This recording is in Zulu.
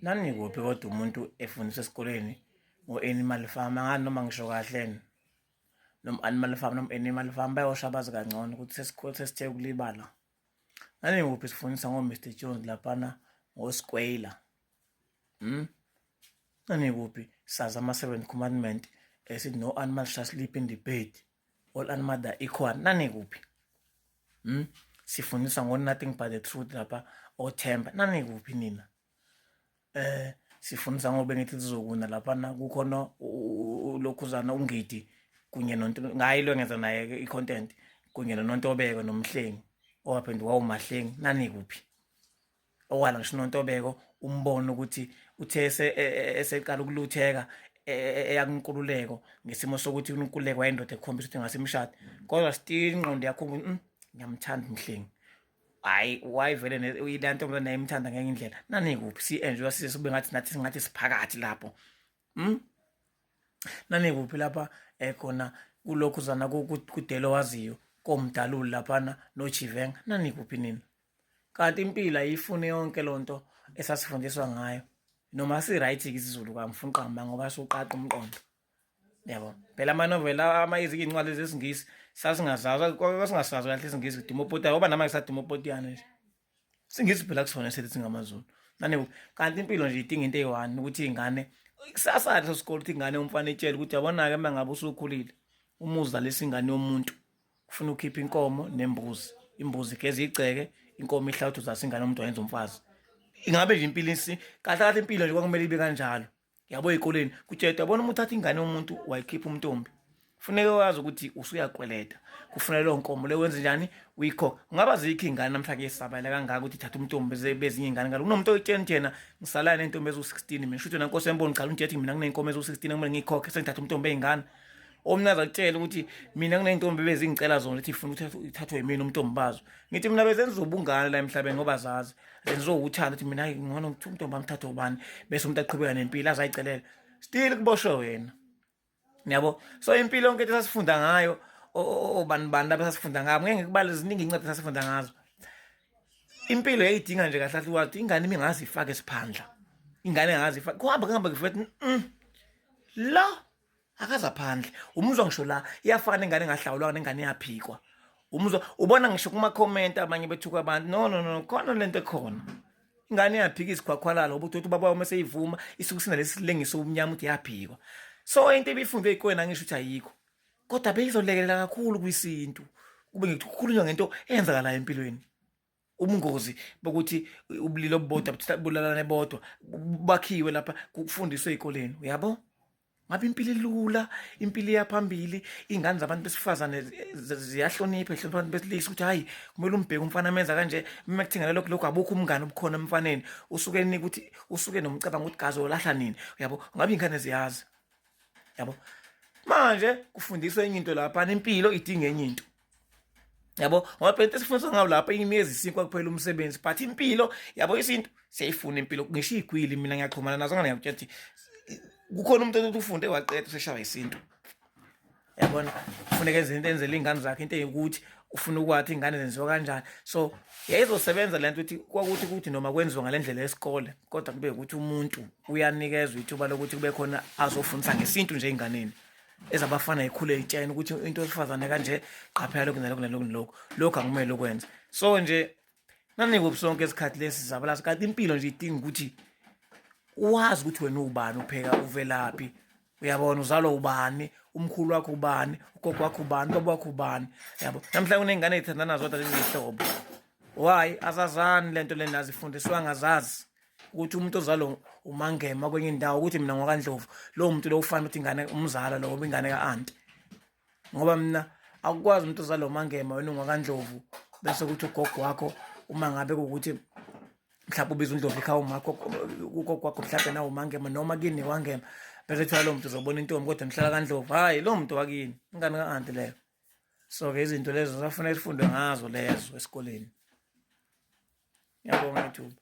Nanikuphi kodwa umuntu efundisa esikoleni ngo-animal farm angani noma ngisho kahle ni nom-animal farm nom-animal farm bayosho abazi kangcono ukuthi sesikhulu sesithe ukulibala nanikuphi sifundisa ngo-mr jones laphana ngoskwayla um hmm? nanikuphi sazi ama-seven commandment esithi no animal shall sleep in the bed all animal the equal nanikuphi um hmm? sifundisa ngo-nothing but the truth lapha othemba nanikuphi nina eh sifundisa ngobe ngithi sizokuna lapha na kukhona lokhuzana ungidi kunye nonto ngayi lo ngenza naye i content kunye nonontobeko nomhlengi owaphenduka umahlengi nani kuphi okwala ngisho unontobeko umbono ukuthi uthe e, e, e, eseqala ukulutheka eyakunkululeko ngesimo sokuthi unkululeko wayendoda ekhombisa ukuthi ngasimshadi kodwa still ingqondo yakho mm, ngiyamthanda umhlengi hayi wayivele la ntombazane yayimthanda ngenye indlela nanikuphi si-enjoya size sube ngathi nathi singathi siphakathi lapho um nanikuphi lapha um khona kulokhu zana kudele owaziyo komdaluli laphana nochivenga nanikuphi nini kanti impilo ayifune yonke loo nto esasifundiswa ngayo noma si-right-ke isizulu kamfunqamba ngoba siwuqaqa umqondo yabo phela amanovela ama izincwadi zesingisi sasingazazi kwasingasazi kahle isingisi kuduma upoti ngoba nama ngisaduma upotiyana nje singisi phela kusona esithi singamazulu nane kanti impilo nje idinga into eyi-one ukuthi ingane ikusasa leso sikole ukuthi ingane umfana itshele ukuthi yabona-ke uma ngabe usukhulile uma uzalisa ingane yomuntu ufuna ukhipha inkomo nembuzi imbuzi geza igceke inkomo ihlawuthi uzalisa ingane yomuntu wayenza umfazi ingabe nje impilo kahle kahle impilo nje kwakumele ibe kanjalo yabo ezikoleni kutshetwa yabona uma uthatha ingane yomuntu wayikhipha umntombi kufuneka wazi ukuthi usuyakweleta kufuneka leyo nkomo leyo wenze njani uyikhokha ngaba zikho iy'ngane namhlanje ezisabayela kangaka ukuthi thatha umntombi bezinye iy'ngane ngalo kunomuntu oyitsheni njena ngisalaya nentombi eziwu-16 mina shuthi nankosi embona ngicala unjethi mina kuney'nkomo eziwu-16 kumele ngiyikhokhe sengithatha umntombi ey'ngane omnazi akutshela ukuthi mina kuney'ntombi bezingicela zona ukuthi ifuna ukuthi ithathwe yimina umntombi bazo ngithi mina bezenza ubungane la emhlabeni ngoba zazi lenziwa wukuthanda ukuthi mina ngcono ngithi umntombi amthathe ubani bese umuntu aqhubeka nempilo azayicelela still kuboshwe wena niyabo so impilo yonke into esasifunda ngayo obani bani laba sasifunda ngabo ngeke ngikubale ziningi incwadi sasifunda ngazo impilo yayidinga nje kahle kahle wathi ingane imi ngazifaka esiphandla ingane ngazifaka kuhamba kuhamba ngifika ukuthi mm, la akaza phandle umuzwa ngisho la iyafana ingane engahlawulwanga nengane yaphikwa umuzwa ubona ngisho kuma comment abanye bethuka abantu no no no khona lento ekhona ingane yaphika izikhwakhwalala ubuthi uthi baba uma seyivuma isuke sinalesi lengiso umnyama uthi yaphikwa so into ebifunde ikwena ngisho ukuthi ayikho kodwa beyizolekelela kakhulu kwisintu kube ngithi kukhulunywa ngento eyenzakalayo empilweni ubungozi bokuthi ubulili obubodwa bulalane bodwa bakhiwe lapha kufundiswe ey'koleni uyabo ngabe impilo ilula impilo iyaphambili iy'ngane zabantu besifazane ziyahlonipha ihlonipha abantu besilisa ukuthi hhayi kumele umbheke umfana amenza kanje uma kuthingele lokhu lokhu abukho umngane obukhona emfaneni usuke enika ukuthi usuke nomcabanga ukuthi gazi olahla nini uyabo ngabe iy'ngane ziyazi yabo manje kufundiswa enye into lapha impilo idinga enye into yabo ngoba phela into esifundiswa ngayo lapha ini ezisinkwa kuphela umsebenzi but impilo yabo isintu siyayifuna impilo ngisho iy'gwili mina ngiyaxhumana nazo ngane ngiyakutshela ukuthi kukhona umuntu othi ufunde waqeda useshawa isintu yabona kufuneka enze into enzele iy'ngane zakhe into eyukuthi ufuna ukwathi iy'ngane zenziwa kanjani so yayizosebenza le nto ukuthi kwakuthi kuthi noma kwenziwa ngale ndlela yesikole kodwa kube ukuthi umuntu uyanikezwa ithuba lokuthi kube khona azofundisa ngesintu nje ey'nganeni ezabafana ikhule itshena ukuthi into esifazane kanje qaphela lokhu nalokhu nalokhu nalokhu lokhu akumele ukwenze so nje nanikwe ubusonke isikhathi lesi zabalasi kanti impilo nje idinga ukuthi wazi ukuthi wena ubani upheka uvelaphi uyabona uzalwa ubani umkhulu wakho ubani ugogo wakho ubani ugogo wakho ubani yabo namhlanje kuney'ngane ey'thandana zodwa lezihlobo why azazani le nto le nazifundiswa ngazazi ukuthi umuntu ozalo umangema kwenye indawo ukuthi mina ngwakandlovu lowo muntu lowo ufana ukuthi ingane umzala lowo ingane ka-anti ngoba mina akukwazi umuntu ozalo umangema wena ungwakandlovu bese ukuthi ugogo wakho uma ngabe kuwukuthi mhlawumbe ubiza undlovu ikhawu makho kugogo wakho mhlawumbe nawo umangema noma kini wangema bese kuthiwa lowo muntu uzobona intombi kodwa mhlala kandlovu hhayi lowo muntu wakini ingane ka-anti leyo so-ke izinto lezo safuna sifundwe ngazo lezo esikoleni ngiyabonga ithuba